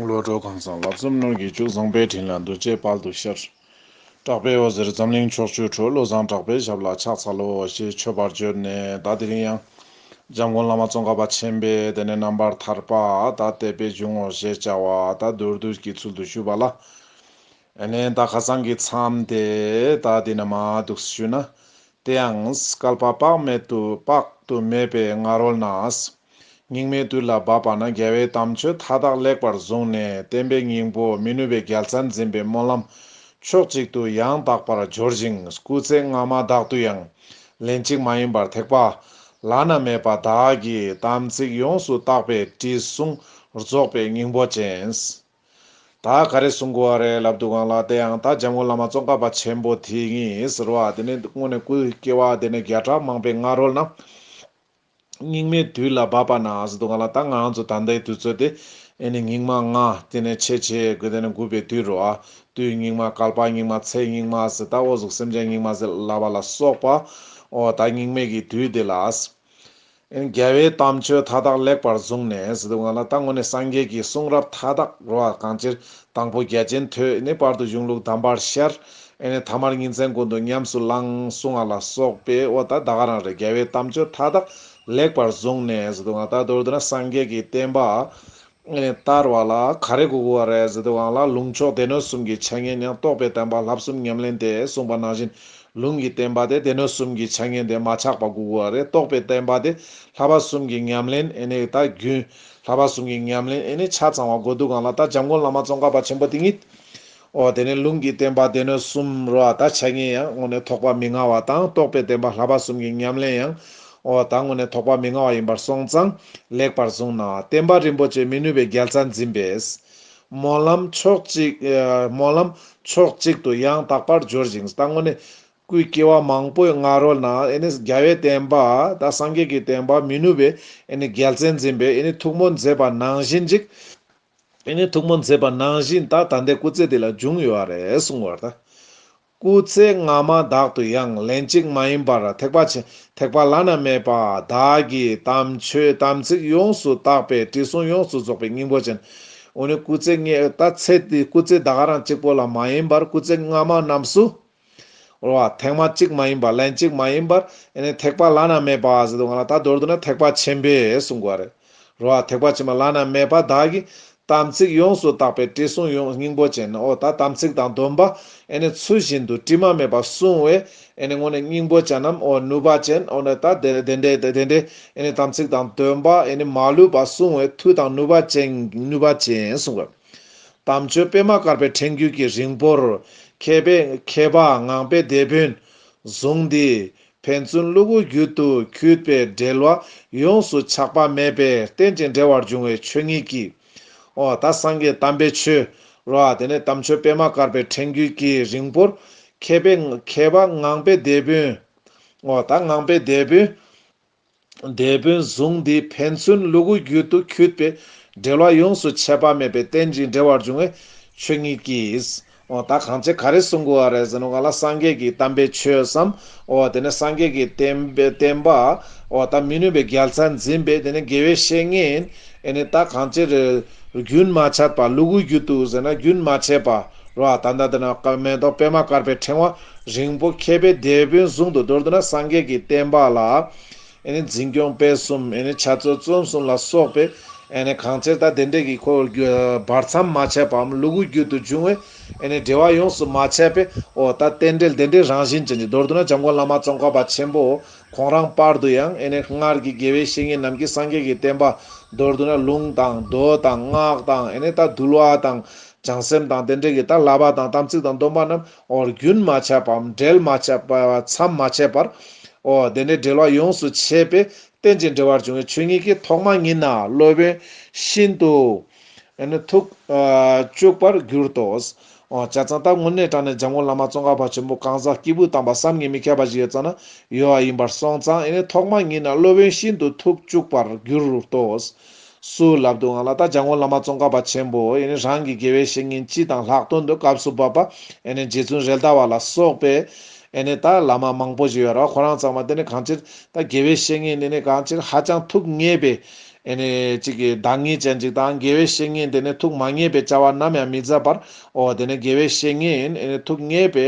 བློ་གྲོས་གང་བཟང་ལབ་ཙམ་སྣོད་ཀྱི་ཅུང་བཟང་པའི་དྲིན་ལ་འདུ་བྱེད་དཔལ་དུ་ཤར། གྲགས་པའི་འོད་ཟེར་འཛམ་གླིང་ཕྱོགས་བཅུར་འཕྲོས་བློ་བཟང་གྲགས་པའི་ཞབས་ལ་ཕྱག་འཚལ་ལོ་ཞེས་མཆོད་པར་བརྗོད་ནས་བདག་དེ་རིང་ཡང། འཇམ་མགོན་བླ་མ་ཙོང་ཁ་པ་ཆེན་པས་དེ་ནས་རྣམ་པར་ཐར་པ་དག་དད་པས་འབྱུང་ངོ་ཞེས་བྱ་བ་དག་མདོར་བསྡུས་ཀྱི་ཚུལ་དུ་ཞུས་པ་ལ། ཨེ་ནས་ད་ག་ཚང་གི་མཚམས་དེ་ད་དེ་ན་མ་འདུག་ཞུས་ན་དེ་ཡང་སྐལ་པ་དཔག་མེད་དུ་དཔག་ཏུ་མེད་པའི་སྔ་རོལ་ན་སྙིགས་མའི་དུས་ལ་བབ་པ་ན་རྒྱལ་བའི་དམ་ཆོས་མཐའ་དག་ལེགས་པར་བཟུང་ནས་བསྟན་པའི་སྙིང་པོ་མི་ནུས་པའི་རྒྱལ་རྩལ་འཛིན་པའི་སྨོན་ལམ་ཕྱོགས་གཅིག་ཏུ་ཡང་དག་པར་སྦྱོར་ཞིང་སྐུ་ཚེ་སྔ་མ་དག་ཏུ་ཡང་ལན་གཅིག་མ་ཡིན་པར་ཐེག་པ་བླ་ན་མེད་པ་དག་གི་དམ་ཚིག་ཡོངས་སུ་བརྟགས་པའི་དྲི་བསུང་རྫོགས་པའི་སྙིང་པོ་ཅན། ད་ག་རེ་གསུང་དགོས་བ་རེད་ལབ་འདུག་གང་ལགས་དེའང་ད་འཇམ་མགོན་བླ་མ་བཙོན་བཀག་པ་ཆེན་པོ་དེ་ཡིན་ཟེར་བ་དེ་ནི་དངོས་ནས་སྐུའི་སྐྱེ་བ་དེ་ནས་བརྒྱ་ཕྲག་མང་པའི་སྔ་རོལ་ན་སྙིགས་མའི་དུས་ལ་བབ་པ་ན་ཟེར་འདུག་གང་ལགས་ད་ང་རང་ཚོ་ད་ལྟའི་དུས་ཚོད་དེ་ཨེ་ནི་སྙིགས་མ་ལྔ་དེ་ནས་ཕྱེད་ཕྱེད་དགོས་དེ་ནི་དགུ་པའི་དུས་རོ་ཨ་དུས་སྙིགས་མ་ཀལ་པ་སྙིགས་མ་ཚེ་སྙིགས་མ་ཟེར་ད་འོ་གཟུགས་སེམས་ཅན་སྙིགས་མ་ཟེར་ལབ་པ་ལ་སོགས་པ་འོ་ད་སྙིགས་མེད་ཀྱི་དུས་དེ་ལ། རྒྱལ་བའི་དམ་ཆོས་མཐའ་དག་ལེགས་པར་བཟུང་ནས་སྡུག་བསྔལ་ལ་ལྟ་ངོ་ནས་སངས་རྒྱས་ཀྱི་གསུང་རབ་མཐའ་དག་རོ་བ་གང་ཅིར་དང་པོ་རྒྱལ་ཆེན་ཐོས་ནས་བར་དུ་གཞུང་ལུགས་དམ་པར་ཤར། ཐ་མར་ཉིན་མཚན་ཀུན་ཏུ་ཉམས་སུ་བླང་གསུང་བ་ལ་སོགས་པས་ཨོ་ད་ད་ག་རང་རེད་རྒྱལ་བའི་དམ་ཆོས་མཐའ་དག་ལེགས་པར་བཟུང་ནས་སྡུག་བསྔལ་ལྟ་དོར་དུ་ན་སངས་རྒྱས་ཀྱི་བསྟན་པ་བསྟར་བ་ལ་ག་རེ་གོ་བ་རེད་ཟེར་དུས་དབང་ལ་ལུང་ཕྱོགས་སྡེ་སྣོད་གསུམ་གྱི་ཆ་ངེས་ཉམས་རྟོགས་པའི་བསྟན་པ་ལྷ་གསུམ་ཉམས་ལེན་དེ་གསུངས་པ་ནང་བཞིན་ལུང་གི་བསྟན་པ་དེ་སྡེ་སྣོད་གསུམ་གྱི་ཆ་ངེས་དེ་མ་ཆགས་པ་གོ་བ་རེད་རྟོགས་པའི་བསྟན་པ་དེ་ལྷ་བ་གསུམ་གྱི་ཉམས་ལེན་ཨེ་ནས་ད་རྒྱུན་ལྷ་བ་གསུམ་གྱི་ཉམས་ལེན་ཨེ་ནས་ཆ་ཚང་བ་གོ་འདུག་གང་ལ་ད་འཇམ་མགོན་བླ་མ་ཙོང་ཁ་པ་ཆེན་པོ་དེ་ཉིད་ཨོ་དེ་ནས་ལུང་གིས་བསྟན་པ་སྡེ་སྣོད་གསུམ་རུ་བ་དག་ཆ་གཉིས་ཡང་ངོ་ནས་ཐོགས་པ་མི་མངའ་བ་དང་རྟོགས་པའི་བདེན་པ་ལྷ་པ་གསུམ་གྱི་ཉམས་ལེན་ཡང་ཨོ་དང་ངོ་ནས་ཐོགས་པ་མི་མངའ་བ་ཡིན་པར་སོང་ཙང་ལེགས་པར་བཟུང་ན་བསྟན་པ་རིན་པོ་ཆེ་མི་ནུས་པའི་རྒྱལ་ཚ་འཛིན་པས། སྨོན་ལམ་ཕྱོགས་གཅིག། སྨོན་ལམ་ཕྱོགས་གཅིག་ཏུ་ཡང་དག་པར་སྦྱོར་ཅིང་ལྟ་ངོ་ནས། སྐུའི་སྐྱེ་བ་མང་པོའི་སྔ་རོལ་ན་རྒྱལ་བའི་བསྟན་པ་དང་སངས་རྒྱས་ཀྱི་བསྟན་པ་མི་ནུས་པའི་རྒྱལ་ཚའི་འཛིན་པས་ཐུགས་སྨོན་མཛད་པ་ནང་བཞིན་ཅིག། དེ་ནས་ཐུགས་སྨོན་མཛད་པ་ནང་བཞིན་ད་ད་ལྟའི་སྐུ་ཚེ་འདི་ལ་འབྱུང་ཡོད་རེད་གསུངས་བར་ད། སྐུ་ཚེ་སྔ་མ་དག་ཏུ་ཡང་ལན་གཅིག་མ་ཡིན་པར་ཐེག་པ་ཆེན་ཐེག་པ་བླ་ན་མེད་པ་དག་གི་དམ་ཆོས་དམ་ཚིག་ཡོངས་སུ་བརྟགས་པས་དྲི་བསུང་ཡོངས་སུ་རྫོགས་པའི་སྙིང་པོ་ཅན། འོ་ནི་སྐུ་ཚེ་ལྔའི་ད་ཚེ་འདི་སྐུ་ཚེ་ད་ག་རང་གཅིག་པོ་ལ་མ་ཡིན་པར་སྐུ་ཚེ་སྔ་མ་རྣམས་སུ། ཨོ་ཨ། ཐེག་མ་གཅིག་མ་ཡིན་པ་ལན་གཅིག་མ་ཡིན་པར་ཨེ་ནས་ཐེག་པ་བླ་ན་མེད་པ་ཟེར་དུ་ང་ལ་ད་མདོར་བསྡུ་ན་ཐེག་པ་ཆེན་པོས་གསུངས་དགོས་པ་རེད། རོ་ཨ་ཐེག་པ་ཆེན་པོ་བླ་ན་མེད་པ་བདག་གིས་དམ་ཚིག་ཡོངས་སུ་དག་པའི་དྲི་བསུང་ཡོངས་སྙིང་པོ་ཅན་ཨོ་ད་དམ་ཚིག་དང་སྡོམ་པ་ཨེ་ནས་ཚུལ་བཞིན་དུ་དྲི་མ་མེད་པར་བསྲུང་བས་ཨེ་ནས་སྔོན་ནས་སྙིང་པོ་ཅན་ནམ་ཨོ་ནུས་པ་ཅན་ཨོ་ན་ད་དེ་འདྲའི་དེ་འདྲའི་ཨེ་ནས་དམ་ཚིག་དང་སྡོམ་པ་ཨེ་ནས་མ་ལུས་པར་བསྲུང་བས་མཐུ་དང་ནུས་པ་ཅན་ནུས་པ་ཅན་གསུངས་དགོས། དམ་ཆོས་སྤེལ་མ་དཀར་པའི་ཕྲེང་རྒྱུད་ཀྱི་རིང་པོར། མཁས་པ་ངང་པའི་སྡེ་དཔོན་བཟུང་སྟེ། ཕན་ཚུན་བསླུ་བའི་རྒྱུད་དུ་གྱུར་པའི་འབྲེལ་བ་ཡོངས་སུ་ཆགས་པ་མེད་པའི་རྟེན་ཅིང་འབྲེལ་བར་འབྱུང་བའི་ཆོས་ཉིད་ཀྱིས། ཨོ་ད་སངས་རྒྱས་དམ་པའི་ཆོས་རོ། དེ་ནས་དམ་ཆོས་སྤེལ་མ་དཀར་པའི་ཕྲེང་རྒྱུད་ཀྱི་རིང་པོར། མཁས་པ་ངང་པའི་སྡེ་དཔོན། ཨོ་ད་ངང་པའི་སྡེ་དཔོན། སྡེ་དཔོན་གཟུངས་འདིས་ཕན་ཚུན་ལུ་གུ་རྒྱུད་དུ་འཁྱུད་པའི་འབྲེལ་བ་ཡོངས་སུ་ཆད་པ་མེད་པའི་རྟེན་ཅིང་འབྲེལ་བར་འབྱུང་བའི་ཆོས་ཉིད་ཀྱིས། འོ་ད་གང་བྱེད་ག་རེ་གསུང་དགོས་བ་རེད་ཟེར་ནོ་ག་ལ་སངས་རྒྱས་ཀྱི་གཏམ་པའི་ཆོས་སམ། འོ་དེ་ནས་སངས་རྒྱས་ཀྱི་བསྟན་པ། འོ་ད་མི་ནུས་པའི་རྒྱལ་མཚན་འཛིན་པས་དེ་ནས་དགེ་བའི་བཤེས་གཉེན། ཨེ་ནས་ད་གང་བྱེད་རེད། རྒྱུན་མ་ཆད་པ་ལུ་གུ་རྒྱུད་དུ་ཟེར་ན་རྒྱུན་མ་ཆད་པ་རོ། ད་ད་འདི་ན་མེ་ཏོག་པད་མ་དཀར་པའི་ཕྲེང་བ་རིང་པོ་མཁས་པའི་སྡེ་དཔོན་ཟུང་དུ་སྦྲུལ་དུ་ན་སངས་རྒྱས་ཀྱི་བསྟན་པ་ལ། འཛིན་སྐྱོང་སྤེལ་གསུམ་བྱ་རྩོལ་བརྩོན་གསུམ་ལ་སོགས་པའི། གང་ཚེ་ད་དེ་འདྲས་ཀྱི་འཁོར་བར་བར་མཚམས་མ་ཆད་པའམ་ལུ་གུ་རྒྱུད་དུ་འབྱུང་བའི། འབྲེལ་བ་ཡོངས་སུ་མ་ཆད་པའི་འོ་ད་རྟེན་འབྲེལ་དེ་འདྲའི་རང་བཞིན་ཅན་གྱི་མདོར་བསྡུ་ན་འཇམ་མགོན་བླ་མ་ཙོང་ཁ་པ་ཆེན་པོ་ཁོང་རང་སྤར་དུ་ཡང། སྔར་གྱི་དགེ་བའི་བཤེས་གཉེན་རྣམས་ཀྱིས་སངས་རྒྱས་ཀྱི་བསྟན་པ་མདོར་བསྡུ་ན་ལུང་དང་མདོ་དང་སྔགས་དང་ད་གདུལ་བ་དང་བྱང་སེམས་དང་དེ་འདྲས་ཀྱི་ད་བསླབ་པ་དང་དམ་ཚིག་དང་སྡོམ་པ་རྣམས་འོ་རྒྱུན་མ་ཆད་པའམ་འབྲལ་མ་ཆད་པའི་མཚམས་མ་ཆད་པར་འོ་དེ་ནས་འབྲལ་བ་ཡོངས་སུ་ཆད་པས་རྟེན་ཅིང་འབྲེལ་བར་འབྱུང་བའི་ཆོས་ཉིད་ཀྱི་ཐོག་མ་ཉིད་ན་སློབ་དཔོན་ཤིན་ཏུ་ཐུགས་སྐྱོ་བར་གྱུར་ཏོ། འོ་བྱ་ཙང་ད་སྔོན་གནས་དྲངས་ནས་འཇམ་མགོན་བླ་མ་ཙོང་ཁ་བ་ཆེན་པོ་གང་ཟག་སྐྱེས་བུ་དམ་པ་བསམ་ངན་མི་ཁྱབ་པ་ཞིག་ཡོད་ཙང་ན་ཡོད་བ་ཡིན་པར་སོང་ཙང་ཐོག་མ་ཉིད་ན་སློབ་དཔོན་ཤིན་ཏུ་ཐུགས་སྐྱོ་བར་གྱུར་ཏོ། སུ་ལབ་འདུག་ང་ལ་ད་བྱང་ཁོང་བླ་མ་ཙོང་ཁ་པ་ཆེན་པོ་ཡེ་ནས་རང་གི་དགེ་བའི་བཤེས་གཉེན་སྤྱི་དང་ལྷག་དོན་དུ་སྐབས་སུ་བབས་པ་ཡེ་ནས་རྗེ་བཙུན་རེ་ལྟ་བ་ལ་སོགས་པའི་ཡེ་ནས་ད་བླ་མ་མང་པོ་ཞིག་ཡོད་ར་བ་ཁོ་རང་ཚང་མ་དེ་ནས་གང་ཅིར་ད་དགེ་བའི་བཤེས་གཉེན་ནི་ནས་གང་ཅིར་ཧ་ཅང་ཐུགས་མཉེས་པའི་ཡེ་ནས་ཅིག་གི་བདག་ཉིད་ཅན་ཅིག་དང་དགེ་བའི་བཤེས་གཉེན་དེ་ནས་ཐུགས་མ་མཉེས་པའི་བྱ་བ་ནམ་ཡང་མི་མཛད་པར་འོ་དེ་ནས་དགེ་བའི་བཤེས་གཉེན་ཡེ་ནས་ཐུགས་མཉེས་པའི་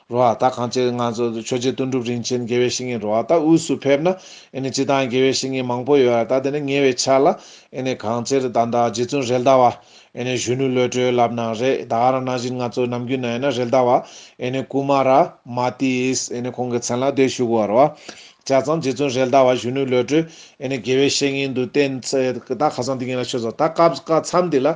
རོ་ཨ་ཏཱ་གངས་ཅན་ང་ཚོ་ཆོས་རྗེ་དོན་གྲུབ་རིན་ཆེན་དགེ་བའི་བཤེས་གཉེན་རོ་ཨ་ཏཱ་དབུས་སུ་ཕེབས་ན་ཨེ་ནི་ཅི་དང་དགེ་བའི་བཤེས་གཉེན་མང་པོ་ཡོད་ཨ་ཏཱ་དེ་ནི་ཉེ་བའི་ཆ་ལ་ཨེ་ནི་གང་ཅེར་བདག་འདྲ་རྗེ་བཙུན་རེལ་ཟླ་བ་ཨེ་ནི་གཞོན་ནུའི་བློས་གྲོས་ལབ་ན་རེ་ད་ཨ་ར་ན་བཞིན་ང་ཚོ་ནམ་རྒྱུན་ན་ཨེ་ན་རེལ་ཟླ་བ་ཨེ་ནི་ཀུ་མ་ར་མ་ཏི་ཨིས་ཨེ་ནི་ཁོང་གི་མཚན་ལ་བསྡད་བཞུགས་བར་བ་ཇ་ཙང་རྗེ་བཙུན་རེལ་ཟླ་བ་གཞོན་ནུའི་བློས་གྲོས་ཨེ་ནི་དགེ་བའི་བཤེས་གཉེན་དུ་བསྟེན་ཚེ་ད་ཁ་སང་དེ་གཉིས་ལ་ཆོས་ཟ་ད་སྐབས་ཀ་མཚམས་འདི་ལ་ཨེ་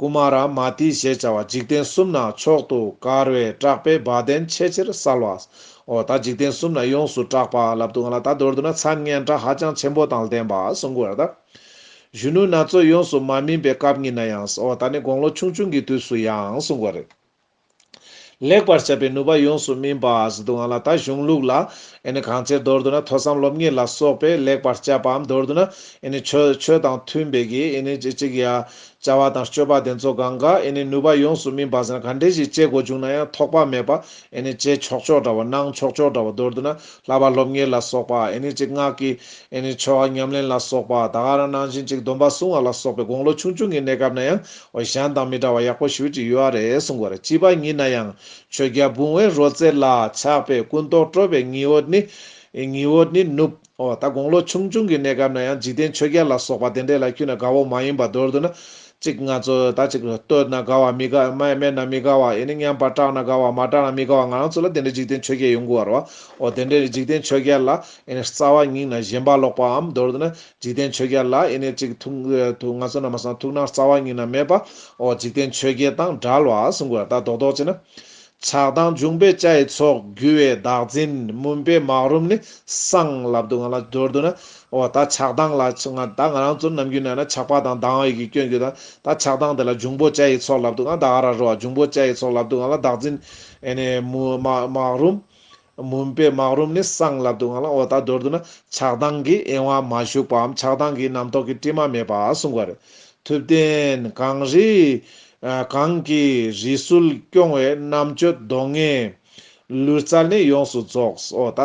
ཀུ་མཱ་ར་མཱ་ཏི་ཞེས་བྱ་བ་འཇིག་རྟེན་གསུམ་ན་མཆོག་ཏུ་དཀར་བའི་གྲགས་པའི་བ་དན་ཆེས་ཆེར་གསལ་བའོ། ད་འཇིག་རྟེན་གསུམ་ན་ཡོངས་སུ་གྲགས་པ་ལབ་ཏུ་ང་ལ་ད་མདོར་བསྡུ་ན་མཚན་སྙན་གྲགས་ཧ་ཅང་ཆེན་པོ་དང་ལྡན་པ་གསུང་གོ། ད་གཞོན་ནུ་ན་ཚོད་ཡོངས་སུ་མ་སྨིན་པའི་སྐབས་ཉིད་ན་ཡང། ད་ནི་དགུང་ལོ་ཆུང་ཆུང་གི་དུས་སུ་ཡང་གསུང་གོ། ལེགས་པར་བྱ་བའི་ནུས་པ་ཡོངས་སུ་སྨིན་པ་ཞིག་འདུག་ང་ལ་ད་གཞུང་ལུགས་ལ་གང་ཅིར་མདོར་བསྡུ་ན་ཐོས་བསམ་སློབ་གཉེར་ལ་སོགས་པས་ལེགས་པར་བྱ་བའམ་མདོར་བསྡུ་ན་ཆོས་དང་མཐུན་པའི་གྱིགཅིག་ཡ། བྱ་བ་དང་སྤྱོད་པ་དེ་ཚོ་གང་ག་ནུས་པ་ཡོངས་སུ་སྨིན་པ་ཟེར་ན་ག་འདྲས་ཞིག་དཔྱད་དགོས་བྱུང་ན་ཡང་ཐོགས་པ་མེད་པར་བྱེད་ཆོག་ཆོག་འདྲ་བ་གནང་ཆོག་ཆོག་འདྲ་བ་མདོར་བསྡུ་ན་ལྷག་པར་སློབ་གཉེར་ལ་སོགས་པ་སྔགས་ཀྱི་ཆོས་ཉམས་ལེན་ལ་སོགས་པ་ད་ག་རང་ནང་བཞིན་ཅིག་སྡོམ་པ་བསྲུང་བ་ལ་སོགས་པའི་དགོངས་ལོ་ཆུང་ཆུང་གི་གནས་སྐབས་ན་ཡང་ཨོ་གཞན་དང་མི་འདྲ་བ་ཡག་པོ་ཞུ་ཅིག་ཡོད་རེད་གསུང་དགོས་རེད་བྱིས་པ་ཉིད་ན་ཡང་ཆོས་རྒྱལ་བུང་བའི་རོལ་རྩེད་ལ་ཆགས་པའི་ཀུན་རྟོག་སྤྲོ་བའི་ཉི་འོད་ནི། ཉི་འོད་ནི་ནུབ། ཨོ་ད་དགུང་ལོ་ཆུང་ཆུང་གི་གནས་སྐབས་ན་ཡང་འཇིག་རྟེན་ཆོས་རྒྱལ་ལ་སོགས་པ་དེ་འདྲས་ལ་འཁྱུད་ན་དགའ་བོ་མ་ཡིན་པ་མདོར་བསྡུ་ན། གཅིག་ང་ཚོ་ད་ཅིག་བསྟོད་ན་དགའ་བ་མི་དགའ་སྨད་ན་མི་དགའ་བ་ཡེ་ནས་མཉམ་པར་སྐྲག་ན་དགའ་བ་མ་སྐྲག་ན་མི་དགའ་བ་ང་རང་ཚོ་ལ་དེ་འདྲའི་འཇིག་རྟེན་ཆོས་རྒྱལ་ཡོང་དགོས་བར་བ། ཨོ་དེ་འདྲའི་འཇིག་རྟེན་ཆོས་རྒྱལ་ལ་ཡེ་ནས་རྩ་བ་སྙིང་ན་ཞེན་པ་ལོག་པའམ་མདོར་བསྡུ་ན་འཇིག་རྟེན་ཆོས་བརྒྱད་ལ་ཡེ་ནས་གཅིག། ཐུགས་ང་ཚོ་ན་མ་སངས་ཐུགས་སྣང་རྩ་བ་ཉིད་ན་མེད་པའོ། འཇིག་རྟེན་ཆོས་བརྒྱད་དང་འདྲ་ལ་གསུང་དགོས་ད་རྡོག་རྡོག་བྱེད་ན། ཆགས་སྡང་འབྱུང་པའི་ལྕ་ཡི་ཚོགས། རྒྱུ་བའི་བདག་འཛིན་མུན་པའི་མག་རུམ་ནི། སངས་ལབ་སྡུག་བསྔལ་ལ་སྦྱོར་བསྡུ་ན། འོ་ད་ཆགས་སྡང་ལ་ད་ང་རང་ཚོ་ནམ་རྒྱུན་ན་ན་ཆགས་པ་དང་སྡང་བའི་གིས་སྐྱོན་རྒྱུ་དང་ད་ཆགས་སྡང་དེ་ལ་འབྱུང་པོ་ལྕ་ཡི་ཚོགས་ལབ་སྡུག་བསྔལ་ད་ཨ་ར་རོ་ཨ་འབྱུང་པོ་ལྕ་ཡི་ཚོགས་ལབ་སྡུག་བསྔལ་ལ་བདག་འཛིན། ཨེ་ནས་མུན་མག་རུམ། མུན་པའི་སྨག་རུམ་ནི་གསང་སླ་སྡུག་བསྔལ་ལ་འོ་ད་མདོར་བསྡུ་ན་ཆགས་སྡང་གི་གཡེང་བ་མ་ཞུགས་པའམ་ཆགས་སྡང་གིས་རྣམ་རྟོག་གི་སྤྲིས་མ་མེད་པ་གསུངས་པ་རེད། ཐུབ་བསྟན་གངས་རི། གང་གི་རི་སུལ་སྐྱོང་བའི་རྣམ་དཔྱོད་གདོང་ལྔའི། ལུས་རྩལ་ནི་ཡོངས་སུ་རྫོགས། འོ་ད་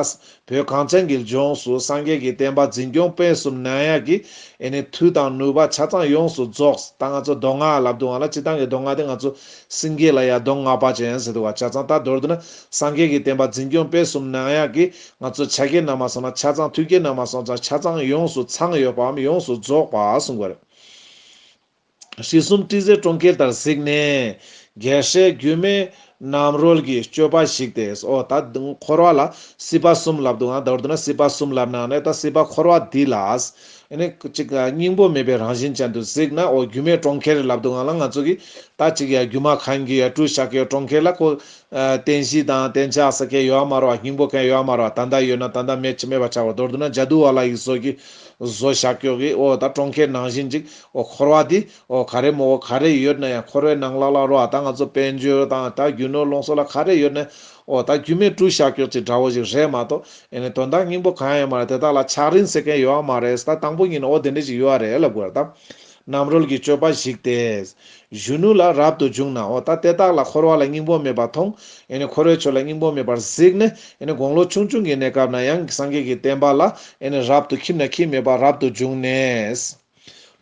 བོད་གངས་ཅན་གྱི་ལྗོངས་སུ་སངས་རྒྱས་ཀྱི་བསྟན་པ་འཛིན་སྐྱོང་སྤེལ་གསུམ་གནང་ཡག་གི་ཨེ་ནི་མཐུ་དང་ནུས་པ་ཆ་ཚང་ཡོངས་སུ་རྫོགས། ད་ང་ཚོ་མདོ་སྔགས་ལ་སྡུག་བསྔལ་ལ་སྤྱི་བཏང་གི་མདོ་སྔགས་དེ་ང་ཚོ་སེང་གེ་ལ་ཡ་གདོང་ལྔ་པ་ཅན་ཟེར་བ་ཆ་ཚང་ལྟ་མདོར་བསྡུ་ན་སངས་རྒྱས་ཀྱི་བསྟན་པ་འཛིན་སྐྱོང་སྤེལ་གསུམ་ནང་ཡང་གི་ང་ཚོས་བྱ་དཀའི་ནང་མ་སོང་ན་ཆ་ཚང་ཐུགས་ཀའི་ནང་མ་སོང་ཙང་ཆ་ཚང་ཡོངས་སུ་ཚང་ཡོད་པའམ་ཡོངས་སུ་རྫོགས་པ་གསུང་དགོས་རེད། ཞི་གསུམ་བཀྲིས་བརྩེ་གྲོང་ཁྱེར་ལྟར་གཟིགས་ནས། རྒྱལ་སྲས་སྒྱུ་མའི་རྣམ་རོལ་གྱི་སྤྱོད་པ་གཞིགས་ཏེ་ཨོ་ད་འཁོར་བ་ལ་སྲིད་པ་གསུམ་ལབ་འདུག་ཨང་མདོར་བསྡུ་ན་སྲིད་པ་གསུམ་ལབ་ནའང་ནས་ད་སྲིད་པ་འཁོར་བ་འདི་ལ་སྙིང་པོ་མེད་པའི་རང་བཞིན་ཅན་དུ་གཟིགས་ནའོ་སྒྱུ་མའི་གྲོང་ཁྱེར་ལབ་འདུག་ང་ལ་ང་ཚོ་གིས་ད་ཅིག་ཡ་སྒྱུ་མ་གང་གི་ཡ་སྤྲུལ་ཞག་གི་གྲོང་ཁྱེར་ལ་ཁོ། བསྟན་བཞི་དང་བསྟན་ཆགས་ས་གས་ཡོའ་མ་རོ་བ་སྙིང་པོ་གས་ཡོའ་མ་རོ་བ་ད་ད་ཡོད་ན་ད་ད་མེད་ཅི་མེད་པ་ཆགས་པ་མདོར་བསྡུ་ན་འཇའ་དུ་བ་ལ་ཡི་བཟོ་གི། བཟོ་ཞག་གྱོ་གི་ཨོ་ད་གྲོང་ཁྱེར་ནང་བཞིན་ཅིག་ཨོ་འཁོར་བ་དེ་འོ་ག་རེ་མོ་འོ་ག་རེ་ཡོད་ན་ཡང་འཁོར་བའི་ནང་ལག་ལག་རོ་ཨ་ད་ང་ཚོ་དཔལ་འབྱོར་དང་ད་རྒྱུ་ནོར་ལོངས་སོ་ལ་ག་རེ་ཡོད་ན་འོ་ད་རྒྱུ་མེད་སྤྲུལ་ཞག་གྱོགས་ཅིག་འདྲ་བོ་ཞིག་རེད་མ་གཏོགས་ཨེ་ནས་དོན་དག་སྙིང་པོ་གང་ཡང་མ་རེད་དེ་དག་ལ་ཆགས་རིན་ཟེར་མཁན་ཡོད་ཨ་མ་རེད་ད་དང་པོ་ཉིད་ནས་འོ་དེ་འདྲ་ཞིག་ཡོད་ཨ་རེད་ལབ་དགོས་ར་ད། རྣམ་རོལ་གྱི་སྤྱོད་པ་ཞིག་དེ། གཞོན་ནུ་ལ་རབ་ཏུ་འཇུག་ན་འོ་ད་དེ་དག་ལ་འཁོར་བ་ལ་སྙིང་པོ་མེད་པར་མཐོང་ཨེ་ནས་འཁོར་བའི་ཆོས་ལ་སྙིང་པོ་མེད་པར་གཟིགས་ནས་ཨེ་ནས་དགུང་ལོ་ཆུང་ཆུང་གི་གནས་སྐབས་ན་ཡང་སངས་རྒྱས་ཀྱི་བསྟན་པ་ལ་ཨེ་ནས་རབ་ཏུ་ཁྱིམ་ན་ཁྱིམ་མེད་པར་རབ་ཏུ་འཇུག་ནས།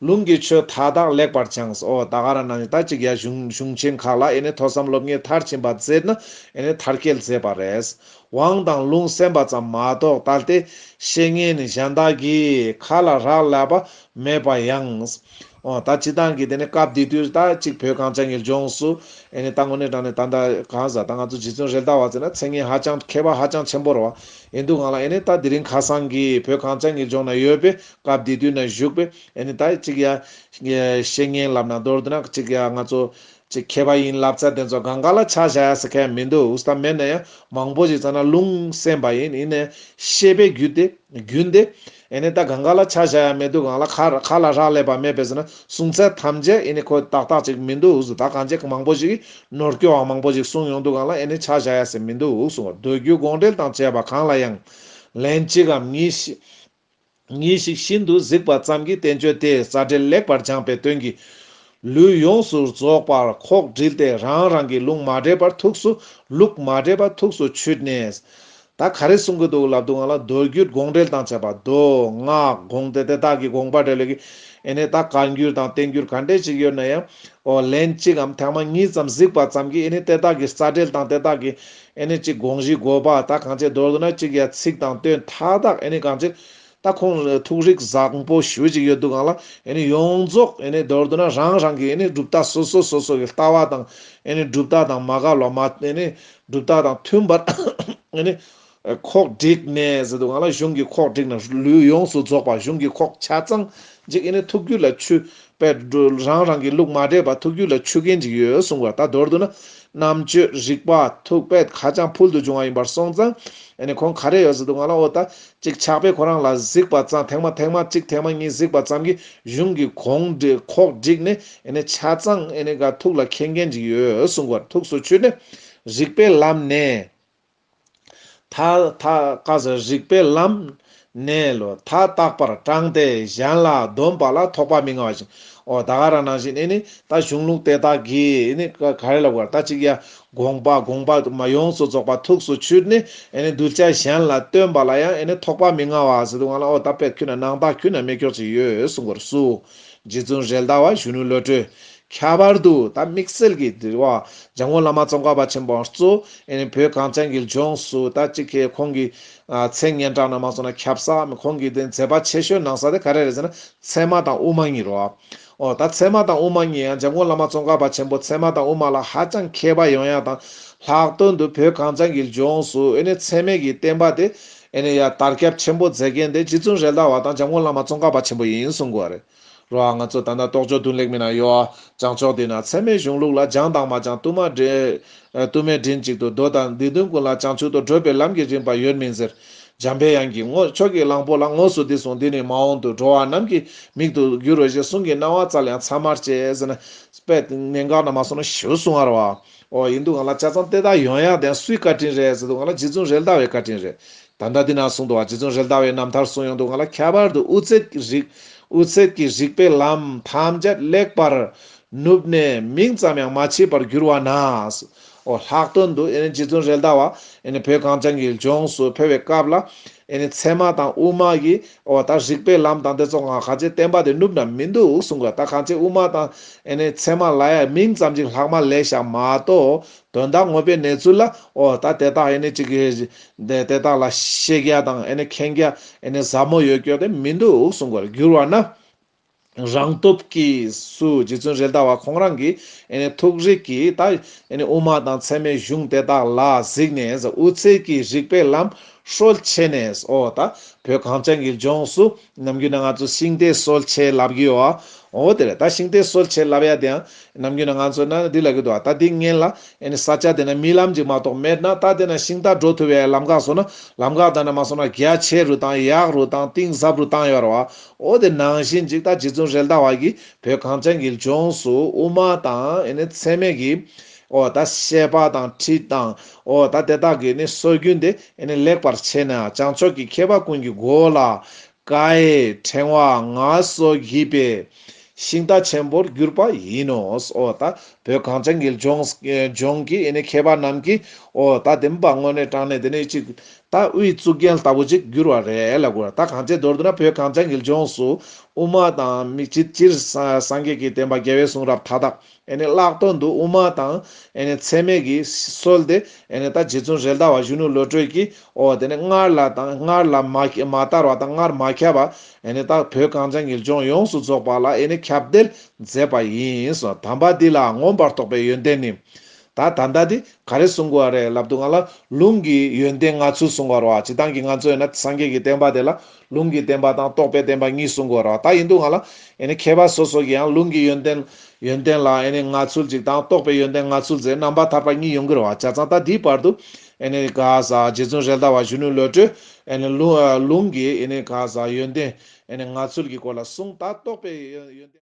ལུང་གི་ཆོས་མཐའ་དག་ལེགས་པར་སྦྱངས་སོ། ད་ག་ར་ན་ནི་ད་ཅིག་ཡ་གཞུང་ཆེན་ཁག་ལ་ཨེ་ནི་ཐོས་བསམ་སློབ་གཉེར་མཐར་ཕྱིན་པ་མཛད་ན་ཨེ་ནི་མཐར་སྐྱེལ་མཛད་པ་རེད། དབང་དང་ལུང་གསན་པ་ཙམ་མ་གཏོགས་ད་ལྟའི་བཤེས་གཉེན་ནི་གཞན་དག་གིས་ཁ་ལ་རག་ལས་པ་མེད་པ་ཡང། འོ་ད་ཅི་སྟངས་ཀྱིས་དེ་ནི་སྐབས་འདི་དུས་ད་ཅིག་བོད་གངས་ཅན་གྱི་ལྗོངས་སུ་ཨེ་ནི་ད་ངོ་ནས་དྲངས་ནས་ད་གང་ཟག་ད་ང་ཚོ་རྗེ་བཙུན་རེད་ད་བ་ཚོས་ན་མཚན་སྙན་ཧ་ཅང་མཁས་པ་ཧ་ཅང་ཆེན་པོ་རེད་བ་ཨེ་འདུག་གང་ལ་ཨེ་ནི་ད་དེ་རིང་ཁ་སང་གི་བོད་གངས་ཅན་གྱི་ལྗོངས་ན་ཡོད་པའི་སྐབས་དེ་དུས་ན་བཞུགས་པས་ཨེ་ནི་ད་ཅིག་ཡ། བཤེས་གཉེན་ལབ་ན་མདོར་བསྡུ་ན་ཅིག་ཡ་ང་ཚོ། ཅིག་མཁས་པ་ཡིན་ལབ་ཚ་དེ་ཚོ་གང་ག་ལ་ཆ་བཞག་ཡ་ཟེར་མཁན་མི་འདུག་ཨུ་སྟ་མེད་ན་ཡང་མང་པོ་ཞིག་ཚ་ན་ལུང་སེམས་པ་ཡིན་ཡིན་ནས་ཤེས་པའི་རྒྱུ་དེ་རྒྱུན་དེ། ཨེ་ནི་ད་གང་ག་ལ་ཆ་བཞག་ཡ་མེད་དུ་གང་ལ་ག་ལ་རག་ལས་པ་མེད་པས་ཟེར་ན་གསུང་ཚད་ཐམས་ཅད་ཨེ་ནི་ཁོས་ཏག་ཏག་ཅིག་མི་འདུག་ཨུ་ད་གང་ཅིག་མང་པོ་ཞིག་གིས་ནོར་སྐྱོ་བ་མང་པོ་ཞིག་གསུང་ཡོང་དུས་གང་ལ་ཨེ་ནི་ཆ་བཞག་ཡ་ཟེར་མི་འདུག་གསུང་བ་འདོད་རྒྱུ་དགོངས་འགྲེལ་དང་བཅས་པ་གང་ལ་ཡང། ལན་གཅིག་གམ་གཉིས། ངེས་ཤིག་ཤིན་ཏུ་གཟིགས་པ་ཙམ་གྱིས་བསྟན་བཅོས་དེའི་རྩ་འགྲེལ་ལེགས་པར་སྦྱངས་པའི་དོན་གྱིས། ལུས་ཡོངས་སུ་རྫོགས་པར་ཁོག་དྲིལ་ཏེ་རང་རང་གི་ལུང་མ་འདྲེས་པར་ཐུགས་སུ་ལུགས་མ་འདྲེས་པ་ཐུགས་སུ་ཆུད་ནས། ད་ག་རེ་གསུང་གི་འདུག་ལབ་འདུག་ང་ལ་མདོ་རྒྱུད་དགོངས་འགྲེལ་དང་བཅས་པ་མདོ་སྔགས་དགོངས་ཏེ་དེ་དག་གི་དགོངས་པ་འགྲེལ་ལེགས་ཀྱི་ཨེ་ནས་ད་བཀའ་འགྱུར་དང་བསྟན་འགྱུར་ག་འདྲས་ཅིག་ཡོད་ན་ཡང། ལན་གཅིག་གམ་ཐེངས་མ་གཉིས་ཙམ་གཟིགས་པ་ཙམ་གྱིས་ཨེ་ནས་དེ་དག་གི་རྩ་འགྲེལ་དང་དེ་དག་གི་ཨེ་ནི་གཅིག་དགོངས་གཞི་འགོད་པ་དག་གང་ཅིའི་མདོར་བསྡུ་ན་གཅིག་ཡ་ཚིག་དང་དོན་མཐའ་དག་ཨེ་ནི་གང་ཅི། ད་ཁོང་ཐུགས་རིག་བཟང་པོ་ཞུ་ཅིག་ཡོད་འདུག་གང་ལ་ཨེ་ནི་ཡོངས་རྫོགས་ཨེ་ནི་མདོར་བསྡུ་ན་རང་རང་གི་ཨེ་ནི་གྲུབ་རྟགས་སོ་སོ་སོ་སོ་གི་ལྟ་བ་དང་ཨེ་ནི་གྲུབ་རྟགས་དང་མ་བཀག་ལོ་མ་ཨེ་ནི་གྲུབ་རྟགས་དང་མཐུན་པར་ཨེ་ནི། ཁོག་བསྒྲིགས་ནས་ཟེར་འདུག་གང་ལ་གཞུང་གི་ཁོག་བསྒྲིགས་ན་ལུས་ཡོངས་སུ་རྫོགས་པ་གཞུང་གི་ཁོག་ཆ་ཚང་གཅིག་ཨེ་ནི་ཐུགས་རྒྱུད་ལ་ཆུ་པའི་འགྲོ་རང་རང་གི་ལུགས་མ་འདྲེས་པ་ཐུགས་རྒྱུད་ལ་ཆུད་མཁན་ཅིག་ཡོད་གསུངས་པ་ད་མདོར་བསྡུ་ན། རྣམ་དཔྱོད་རིག་པ་ཐུགས་དཔལ་ཧ་ཅང་ཕུལ་དུ་བྱུང་བ་ཡིན་པར་སོང་ཙང། ཨ་ནི་ཁོང་ག་རེ་ཡོད་ཟེར་དུས་ང་ལ་ཨོ་ད། ཅིག་ཆགས་པས་ཁོ་རང་ལ་གཟིགས་པ་ཙང་ཐེངས་མ་ཐེངས་མ་གཅིག་ཐེངས་མ་གཉིས་གཟིགས་པ་ཙམ་གྱིས་གཞུང་གི་གོང་ཁོག་བསྒྲིགས་ནས་ཨ་ནི་ཆ་ཚང་ཨ་ནི་ག་ཐུགས་ལ་མཁྱེན་མཁན་ཅིག་ཡོད་གསུངས་པར་ཐུགས་སུ་ཆུད་ནས། རིག་པའི་ལམ་ནས། ཐ་ཐ་ཀ་ཟ་རིག་པའི་ལམ། གནས་ལུགས་མཐའ་རྟག་པར་དྲངས་ཏེ་གཞན་ལ་འདོམས་པ་ལ་ཐོགས་པ་མི་མངའ་བ་བཞིན་ཨོ་ད་ག་ར་ནང་བཞིན་ནི་ད་གཞུང་ལུགས་དེ་དག་གིས་ག་རེ་ལ་དགོས་ད་ཅིག་ཡ་དགོངས་པ་དགོངས་པ་མ་ཡོངས་སུ་རྫོགས་པ་ཐུགས་སུ་ཆུད་ནི་གདུལ་བྱ་གཞན་ལ་སྟོན་པ་ལ་ཡང་ཐོགས་པ་མི་མངའ་བ་ཟེར་དུ་ང་ལ་ཨོ་ད་པད་ཁུད་ན་ནང་བདག་ཁུད་ན་མེ་སྒྱོགས་ཅིག་ཡོད་གསུང་བར་སུ་རྗེ་བཙུན་རལ་དྭགས་བ་གཞོན་ནུ་བློ་གྲོས་ཁྱད་པར་དུ་ད་དམིགས་བསལ་གྱི་དྲི་བ། འཇམ་མགོན་བླ་མ་ཙོང་ཁ་པ་ཆེན་པོ་གཙོས་ཨེ་ནི་བོད་གངས་ཅན་གྱི་ལྗོངས་སུ་ད་ཅི་ཁེ་ཁོང་གི་མཚན་སྙན་གྲགས་ན་མ་སོང་ན་ཁྱབ་ས་མེད་ཁོང་གི་དེ་མཛད་པ་ཆེ་ཤོས་གནང་ས་དེ་ག་རེ་རེད་ཟེར་ན་ཚད་མ་དང་དབུ་མ་གཉིས་རོ། ཨོ་ད་ཚད་མ་དང་དབུ་མ་གཉིས་ཡང་འཇམ་མགོན་བླ་མ་ཙོང་ཁ་པ་ཆེན་པོ་ཚད་མ་དང་དབུ་མ་ལ་ཧ་ཅང་མཁས་པ་ཡོང་ཡ་དང་ལྷག་དོན་དུ་བོད་གངས་ཅན་གྱི་ལྗོངས་སུ་ཨེ་ནི་ཚད་མེད་ཀྱི་བསྟན་པ་དེ་ཨེ་ནི་ཡ་དར་ཁྱབ་ཆེན་པོ་མཛད་མཁན་དེ་རྗེ་བཙུན་རེད་ད་བ་དང་འཇམ་མགོན་བླ་མ་ཙོང་ཁ་པ་ཆེན་པོ་ཡིན་གསུང་དགོས་རེད། རོ་ང་ཚོ་ད་ལྟ་རྟོག་དཔྱོད་དུ་ལེགས་མིན་ན་ཡོད། བྱང་ཕྱོགས་དེ་ན་ཚད་མའི་གཞུང་ལུགས་ལ་སྦྱང་དང་མ་སྦྱང་གཏུམ་མ་འདྲེ། གཏུམ་མའི་མགྲིན་གཅིག་ཏུ་རྡོ་དང་སྡིག་ལྟུང་ཀུན་ལ་བྱང་ཆུབ་ཏུ་བགྲོད་པའི་ལམ་གྱི་རིམ་པ་ཡོད་མིན་ཟེར། འཇམ་དཔལ་དབྱངས་ཀྱིས་ངོ་ཁྱོད་ཀྱིས་གླང་པོ་ལ་ངོ་སོ་འདི་གསུངས་འདི་ནི་མ་འོངས་དུ་འགྲོ་བ་རྣམས་ཀྱི་མིག་ཏུ་འགྱུར་རོ་ཞེས་གསུང་གི་སྣང་བ་ཙལ་ཡང་ཚར་མར་བཅད་ཟེར་ན། པད་གནས་འགག་ན་མ་སོང་ན་ཞུ་གསུང་བར་བའོ། ཡིན་འདུག་ག་ལ་ལྕགས་ཚང་ལྟེ་བདག་ཡོན་ཡག་དེ་ཡང་སུའི་བཀའ་དྲིན་རེད་ཟེར་འདུག་ག་ལ་རྗེ་བཙུན་རེད་ཟླ་བའི་བཀའ་དྲིན་རེད། ད་ལྟ་འདི་ན་གསུང་དུ་བ་རྗེ་བཙུན་རེ་ལྟ་བའི་རྣམ་ཐར་གསུང་ཡོང་དུ་ང་ལ་ཁྱད་པར་དུ་དབུ་ཚད་ཀྱི་རིགས་དབུ་ཚད་ཀྱི་རིགས་པའི་ལམ་ཐམས་ཅད་ལེགས་པར་ནུབ་ནས་མིང་ཙམ་ཡང་མ་མཆིས་པར་གྱུར་བ་ན། ཨོ་ལྷག་དོན་དུ་རྗེ་བཙུན་རེ་ལྟ་བ་བོད་གངས་ཅན་གྱི་ལྗོངས་སུ་ཕེབས་བའི་སྐབས་ལ། ཚད་མ་དང་དབུ་མ་གྱི་ཨོ་ད་རིགས་པའི་ལམ་དང་དེ་ཚོ་ང་ག་ཅེས་བསྟན་པ་དེ་ནུབ་ན་མི་འདུག་གསུང་གི་ད་གང་ཅེས་དབུ་མ་དང་ཚད་མ་ལ་ཡང་མིང་ཙམ་གཅིག་ལྷག་མ་ལས་ཞག་མ་གཏོགས་དོན་དག་དངོས་པའི་གནས་ཚུལ་ལ་ཨོ་ད་དེ་དག་ཨེ་ནས་ཅིག་གིས་དེ་དག་ལ་ཤེས་རྒྱ་དང་ཨེ་ནས་མཁྱེན་རྒྱ་ཨེ་ནས་ཟབ་མོ་ཡོད་སྐྱོ་དེ་མི་འདུག་གསུང་བར་འགྱུར་བ་ན། རང་སྟོབས་ཀྱིས་སུ་རྗེ་བཙུན་རེད་ད་བ་ཁོང་རང་གིས་ཨེ་ནས་ཐུགས་རིག་གིས་ད་ཨེ་ནས་དབུ་མ་དང་ཚད་མའི་གཞུང་དེ་དག་ལ་གཟིགས་ནས་དབུ་ཚད་ཀྱིས་རིགས་པའི་ལམ་ཧྲོལ་ཕྱེ་ནས་ཨོ་ད་བོད་གངས་ཅན་གྱི་ལྗོངས་སུ་ནམ་རྒྱུན་ན་ང་ཚོ་ཤིང་རྟའི་སྲོལ་ཕྱེ་ལབ་གི་ཡོའོ། དེར་ད་ཤིང་རྟའི་སྲོལ་ཕྱེ་ལབ་ཡ་དེ་ཡང། ནམ་རྒྱུན་ན་ང་ཚོ་ན་འདི་ལབ་གི་འདུག་ད་འདི་ངན་ལ། ས་ཆ་དེ་ན་རྨི་ལམ་ཅིག་མ་གཏོགས་མེད་ན་ད་དེ་ན་ཤིང་རྟ་འགྲོ་ཐུབ་ཡའི་ལམ་ཁ་བཟོ་ན། ལམ་ཁ་ད་ན་མ་སོང་ན་རྒྱ་ཆེ་རུ་དང་ཡག་རུ་དང་གཏིང་ཟབ་རུ་གཏང་ཡོའོ་ར་བའོ། དེ་ནང་བཞིན་ཅིག་ད་རྗེ་བཙུན་རེལ་ད་བ་གིས་བོད་གངས་ཅན་གྱི་ལྗོངས་སུ་དབུ་མ་དང་ཚད་མེད་ཀྱི། འོ་ད་ཤེས་པ་དང་ཁྲིད་དང། འོ་ད་དེ་དག་གིས་ནི་སྲོལ་རྒྱུན་དེ་ལེགས་པར་ཕྱེས་ནས་བྱང་ཕྱོགས་ཀྱི་མཁས་པ་ཀུན་གྱི་མགོ་ལ་ཀྭའི་ཕྲེང་བ་ང་སོ་བགྱིས་པས་ཤིང་རྟ་ཆེན་པོར་གྱུར་པ་ཡིན་ནོ། འོ་ད་བོད་གངས་ཅན་གྱི་ལྗོངས་ཀྱི་མཁས་པ་རྣམས་ཀྱིས་འོ་ད་དེ་འབའ་དངོས་གནས་དྲངས་ནས་དེ་ནི་གཅིག་ད་དབུའི་གཙུག་རྒྱན་ལྟ་བུ་ཅིག་གྱུར་བ་རེད་ལ་དགོས་ད་གང་ཅིའི་མདོར་བསྡུ་ན་བོད་གངས་ཅན་གྱི་ལྗོངས་སུ་དབུ་མ་དང་སྤྱིར་སངས་རྒྱས་ཀྱི་བསྟན་པ་རྒྱལ་བའི་གསུང་རབ་མཐའ་དག་བརླག་དོན་འདུག་དབུ་མ་དང་འཚེ་མེད་ཀྱི་སྲོལ་དེ་ད་རྗེ་བཙུན་རེད་ད་བ་གཞོན་ནུ་བློ་གྲོས་ཀྱིས་ཨོ་དེ་ནས་སྔར་ལ་དང་སྔར་ལ་མ་བསྟར་བ་དང་སྔར་མ་ཁྱབ་པ་ད་བོད་གངས་ཅན་གྱི་ལྗོངས་ཡོངས་སུ་རྫོགས་པ་ལ་ཁྱབ་གདལ་མཛད་པ་ཡིན་སོང་དམ་པ་འདི་ལ་མངོན་པར་རྟོགས་པའི་ཡོན་ཏན་ནི། ད་ད་ལྟ་འདི་ག་རེ་གསུང་དགོས་བ་རེད་ལབ་འདུག་ང་ལ་ལུང་གི་ཡོན་ཏན་ལྔ་ཚུལ་གསུང་བར་བ་ཇི་ལྟང་གི་ང་ཚོས་ན་སངས་རྒྱས་ཀྱི་བསྟན་པ་དེ་ལ་ལུང་གི་བདེན་པ་དང་རྟོགས་པའི་བདེན་པ་གཉིས་གསུངས་གོ་ར་ད་ཡིན་འདུག་ང་ལ་མཁས་པ་སོ་སོ་གིའང་ལུང་གི་ཡོན་ཏན་ཡོན་ཏན་ལ་ང་ཚུལ་གཅིག་དང་རྟོགས་པའི་ཡོན་ཏན་ང་ཚུལ་ཟེར་རྣམ་པར་ཐར་པ་གཉིས་ཡོང་གི་ར་བ་ཆ་ཚང་ད་དེའི་བར་དུ་ག་ས་རྗེ་བཙུན་རལ་དྭགས་བ་གཞོན་ནུའི་བློ་གྲོས་ལུང་གི་ག་ས་ཡོན་ཏན་ང་ཚུལ་གྱི་སྐོར་ལ་གསུངས་ད་རྟོགས་པའི་ཡོན་ཏན།